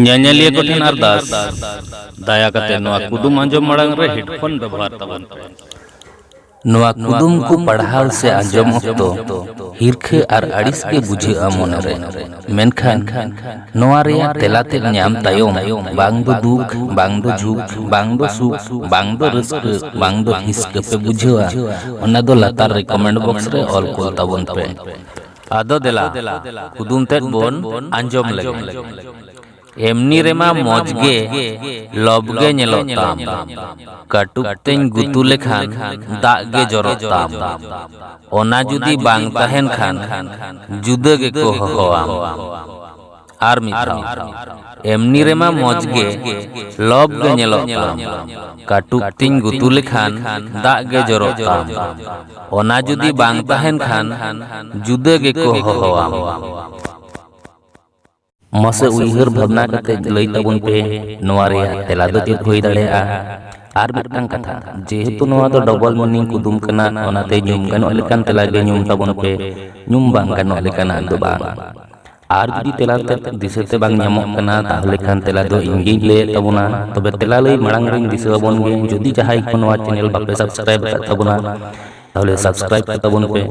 ᱧᱮᱧᱮᱞᱤᱭᱟᱹ ᱠᱚ ᱴᱷᱮᱱ ᱟᱨᱫᱟᱥ ᱫᱟᱭᱟ ᱠᱟᱛᱮ ᱱᱚᱣᱟ ᱠᱩᱫᱩᱢ ᱟᱸᱡᱚᱢ ᱢᱟᱲᱟᱝ ᱨᱮ ᱦᱮᱰᱯᱷᱳᱱ ᱵᱮᱵᱚᱦᱟᱨ ᱛᱟᱵᱚᱱ ᱯᱮ ᱱᱚᱣᱟ ᱠᱩᱫᱩᱢ ᱠᱚ ᱯᱟᱲᱦᱟᱣ ᱥᱮ ᱟᱸᱡᱚᱢ ᱚᱠᱛᱚ ᱦᱤᱨᱠᱷᱟᱹ ᱟᱨ ᱟᱹᱲᱤᱥ ᱜᱮ ᱵᱩᱡᱷᱟᱹᱜᱼᱟ ᱢᱚᱱᱮᱨᱮ ᱢᱮᱱᱠᱷᱟᱱ ᱱᱚᱣᱟ ᱨᱮᱭᱟᱜ ᱛᱮᱞᱟ ᱛᱮ ᱧᱟᱢ ᱛᱟᱭᱚᱢ ᱵᱟᱝ ᱫᱚ ᱫᱩᱠ ᱵᱟᱝ ᱫᱚ ᱡᱷᱩᱠ ᱵᱟᱝ ᱫᱚ ᱥᱩᱠ ᱵᱟᱝ ᱫᱚ ᱨᱟᱹᱥᱠᱟᱹ ᱵᱟᱝ ᱫᱚ ᱦᱤᱥᱠᱟᱹ ᱯᱮ ᱵᱩᱡᱷᱟᱹᱣᱟ ᱚᱱᱟ ᱫᱚ ᱞᱟᱛᱟᱨ ᱨᱮ ᱠᱚᱢᱮᱱᱴ ᱵᱚᱠᱥ ᱨᱮ ᱚᱞ ᱠᱚᱞ ᱛᱟᱵᱚᱱ ᱯᱮ ᱟᱫᱚ ᱫᱮᱞᱟ ᱠᱩᱫᱩᱢ ᱛᱮᱫ ᱵᱚᱱ ᱟᱸᱡᱚᱢ ᱞᱮᱜᱮ ᱮᱢᱱᱤ ᱨᱮᱢᱟ ᱢᱚᱡᱽ ᱜᱮ ᱞᱚᱵᱽ ᱜᱮ ᱧᱮᱞᱚᱜ ᱛᱟᱢ ᱠᱟᱹᱴᱩᱵ ᱛᱮᱧ ᱜᱩᱛᱩ ᱞᱮᱠᱷᱟᱱ ᱫᱟᱜ ᱜᱮ ᱡᱚᱨᱚᱜ ᱛᱟᱢ ᱚᱱᱟ ᱡᱩᱫᱤ ᱵᱟᱝ ᱛᱟᱦᱮᱱ ᱠᱷᱟᱱ ᱡᱩᱫᱟᱹ ᱜᱮᱠᱚ ᱦᱚᱦᱚᱣᱟᱢ ᱟᱨ ᱢᱤᱫ ᱫᱷᱟᱣ ᱮᱢᱱᱤ ᱨᱮᱢᱟ ᱢᱚᱡᱽ ᱜᱮ ᱞᱚᱵ ᱜᱮ ᱧᱮᱞᱚᱜ ᱛᱟᱢ ᱠᱟᱹᱴᱩᱵ ᱛᱤᱧ ᱜᱩᱛᱩ ᱞᱮᱠᱷᱟᱱ ᱫᱟᱜ ᱜᱮ ᱡᱚᱨᱚᱜ ᱛᱟᱢ ᱚᱱᱟ ᱡᱩᱫᱤ ᱵᱟᱝ ᱛᱟᱦᱮᱱ ᱠᱷᱟᱱ ᱡᱩᱫᱟᱹ ᱜᱮᱠᱚ ᱦᱚᱦᱚᱣᱟᱢ ᱢᱟᱥᱮ ᱩᱭᱦᱟᱹᱨ ᱵᱷᱟᱵᱽᱱᱟ ᱠᱟᱛᱮ ᱞᱟᱹᱭ ᱛᱟᱵᱚᱱ ᱯᱮ ᱱᱚᱣᱟ ᱨᱮᱭᱟᱜ ᱛᱮᱞᱟ ᱫᱚ ᱪᱮᱫ ᱦᱩᱭ ᱫᱟᱲᱮᱭᱟᱜᱼᱟ ᱟᱨ ᱢᱤᱫᱴᱟᱝ ᱠᱟᱛᱷᱟ ᱡᱮᱦᱮᱛᱩ ᱱᱚᱣᱟ ᱫᱚ ᱰᱚᱵᱚᱞ ᱢᱤᱱᱤᱝ ᱠᱩᱫᱩᱢ ᱠᱟᱱᱟ ᱚᱱᱟᱛᱮ ᱧᱩᱢ ᱜᱟᱱᱚᱜ ᱞᱮᱠᱟᱱ ᱛᱮᱞᱟ ᱜᱮ ᱧᱩᱢ ᱛᱟᱵᱚᱱ ᱯᱮ ᱧᱩᱢ ᱵᱟᱝ ᱜᱟᱱᱚᱜ ᱞᱮᱠᱟᱱᱟᱜ ᱫᱚ ᱵᱟᱝ ᱟᱨ ᱡᱩᱫᱤ ᱛᱮᱞᱟ ᱫᱤᱥᱟᱹᱛᱮ ᱵᱟᱝ ᱧᱟᱢᱚᱜ ᱠᱟᱱᱟ ᱛᱟᱦᱚᱞᱮ ᱠᱷᱟᱱ ᱛᱮᱞᱟ ᱫᱚ ᱤᱧ ᱜᱤᱧ ᱞᱟᱹᱭᱮᱫ ᱛᱟᱵᱚᱱᱟ ᱛᱚᱵᱮ ᱛᱮᱞᱟ ᱞᱟᱹᱭ ᱢᱟᱲᱟᱝ ᱨᱤᱧ ᱫᱤᱥᱟᱹ ᱟᱵᱚᱱ ᱜᱮ ᱡᱩᱫᱤ ᱡᱟᱦᱟᱸᱭ ᱠᱚ ᱱᱚᱣᱟ ᱪᱮᱱᱮᱞ ᱵᱟᱯᱮ ᱥᱟᱵᱥᱠᱨᱟᱭᱤᱵ ᱟᱠᱟᱫ ᱛᱟᱵᱚᱱᱟ ᱛᱟᱦᱚᱞᱮ ᱥᱟᱵᱥᱠᱨᱟᱭᱤᱵ ᱠᱟᱛᱟ ᱵᱚᱱ ᱯᱮ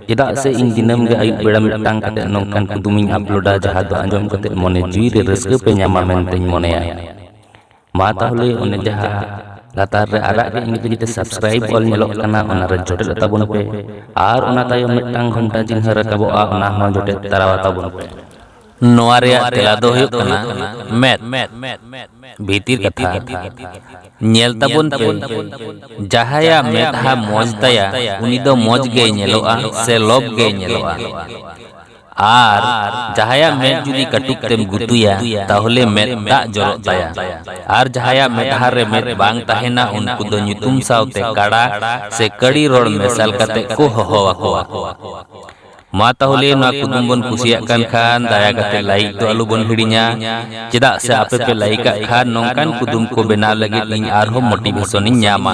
ᱪᱮᱫᱟᱜ ᱥᱮ ᱤᱧ ᱫᱤᱱᱟᱹᱢ ᱜᱮ ᱟᱹᱭᱩᱵ ᱵᱮᱲᱟ ᱢᱤᱫᱴᱟᱝ ᱠᱟᱛᱮ ᱱᱚᱝᱠᱟᱱ ᱠᱩᱫᱩᱢᱤᱧ ᱟᱯᱞᱳᱰᱟ ᱡᱟᱦᱟᱸ ᱫᱚ ᱟᱸᱡᱚᱢ ᱠᱟᱛᱮ ᱢᱚᱱᱮ ᱡᱤᱣᱤ ᱨᱮ ᱨᱟᱹᱥᱠᱟᱹ ᱯᱮ ᱧᱟᱢᱟ ᱢᱮᱱᱛᱮᱧ ᱢᱚᱱᱮᱭᱟ ᱢᱟ ᱛᱟᱦᱚᱞᱮ ᱚᱱᱮ ᱡᱟᱦᱟᱸ ᱞᱟᱛᱟᱨ ᱨᱮ ᱟᱨᱟᱜ ᱜᱮ ᱤᱧ ᱛᱮᱜᱮ ᱥᱟᱵᱥᱠᱨᱟᱭᱤᱵ ᱚᱞ ᱧᱮᱞᱚᱜ ᱠᱟᱱᱟ ᱚᱱᱟ ᱨᱮ ᱡᱚᱴᱮᱫ ᱛᱟᱵᱚᱱ ᱯᱮ ᱟᱨ ᱚᱱᱟ ᱛᱟᱭᱚᱢ ᱢᱤᱫᱴᱟᱝ ᱜᱷᱚᱱᱴᱟ ᱪᱤᱱᱦᱟᱹ ᱨᱟᱠᱟᱵᱚᱜᱼᱟ ᱚᱱᱟ ᱦᱚᱸ ᱡᱚᱴᱮᱫ ᱛᱟᱨᱟ ᱛᱟᱵᱚᱱ ᱯᱮ ᱱᱚᱣᱟ ᱨᱮᱭᱟᱜ ᱛᱮᱞᱟ ᱫᱚ ᱦᱩᱭᱩᱜ ᱠᱟᱱᱟ ᱢᱮᱫ ᱵᱷᱤᱛᱤᱨ ᱠᱟᱛᱷᱟ ᱧᱮᱞ ᱛᱟᱵᱚᱱ ᱯᱮ ᱡᱟᱦᱟᱸᱭᱟᱜ ᱢᱮᱫᱦᱟ ᱢᱚᱡᱽ ᱛᱟᱭᱟ ᱩᱱᱤ ᱫᱚ ᱢᱚᱡᱽ ᱜᱮᱭ ᱧᱮᱞᱚᱜᱼᱟ ᱥᱮ ᱞᱚᱵᱽ ᱜᱮᱭ ᱧᱮᱞᱚᱜᱼᱟ ᱟᱨ ᱡᱟᱦᱟᱸᱭᱟᱜ ᱢᱮᱫ ᱡᱩᱫᱤ ᱠᱟᱹᱴᱩᱵ ᱛᱮᱢ ᱜᱩᱛᱩᱭᱟ ᱛᱟᱦᱚᱞᱮ ᱢᱮᱫ ᱫᱟᱜ ᱡᱚᱨᱚᱜ ᱛᱟᱭᱟ ᱟᱨ ᱡᱟᱦᱟᱸᱭᱟᱜ ᱢᱮᱫᱦᱟ ᱨᱮ ᱢᱮᱫ ᱵᱟᱝ ᱛᱟᱦᱮᱱᱟ ᱩᱱᱠᱩ ᱫᱚ ᱧᱩᱛᱩᱢ ᱥᱟᱶᱛᱮ ᱠᱟᱲᱟ ᱥᱮ ᱠᱟᱹᱲᱤ ᱨᱚᱲ ᱢᱮᱥᱟᱞ ᱠᱟᱛᱮ ᱠᱚ ᱦᱚᱦᱚ ᱟᱠᱚᱣᱟ ᱢᱟ ᱛᱟᱦᱚᱞᱮ ᱱᱚᱣᱟ ᱠᱩᱫᱩᱢ ᱵᱚᱱ ᱠᱩᱥᱤᱭᱟᱜ ᱠᱟᱱ ᱠᱷᱟᱱ ᱫᱟᱭᱟ ᱠᱟᱛᱮ ᱞᱟᱭᱤᱠ ᱫᱚ ᱟᱞᱚ ᱵᱚᱱ ᱦᱤᱲᱤᱧᱟ ᱪᱮᱫᱟᱜ ᱥᱮ ᱟᱯᱮ ᱯᱮ ᱞᱟᱭᱤᱠ ᱟᱜ ᱠᱷᱟᱱ ᱱᱚᱝᱠᱟᱱ ᱠᱩᱫᱩᱢ ᱠᱚ ᱵᱮᱱᱟᱣ ᱞᱟᱹᱜᱤᱫ ᱤᱧ ᱟᱨᱦᱚᱸ ᱢᱳᱴᱤᱵᱷᱮᱥᱚᱱ ᱤᱧ ᱧᱟᱢᱟ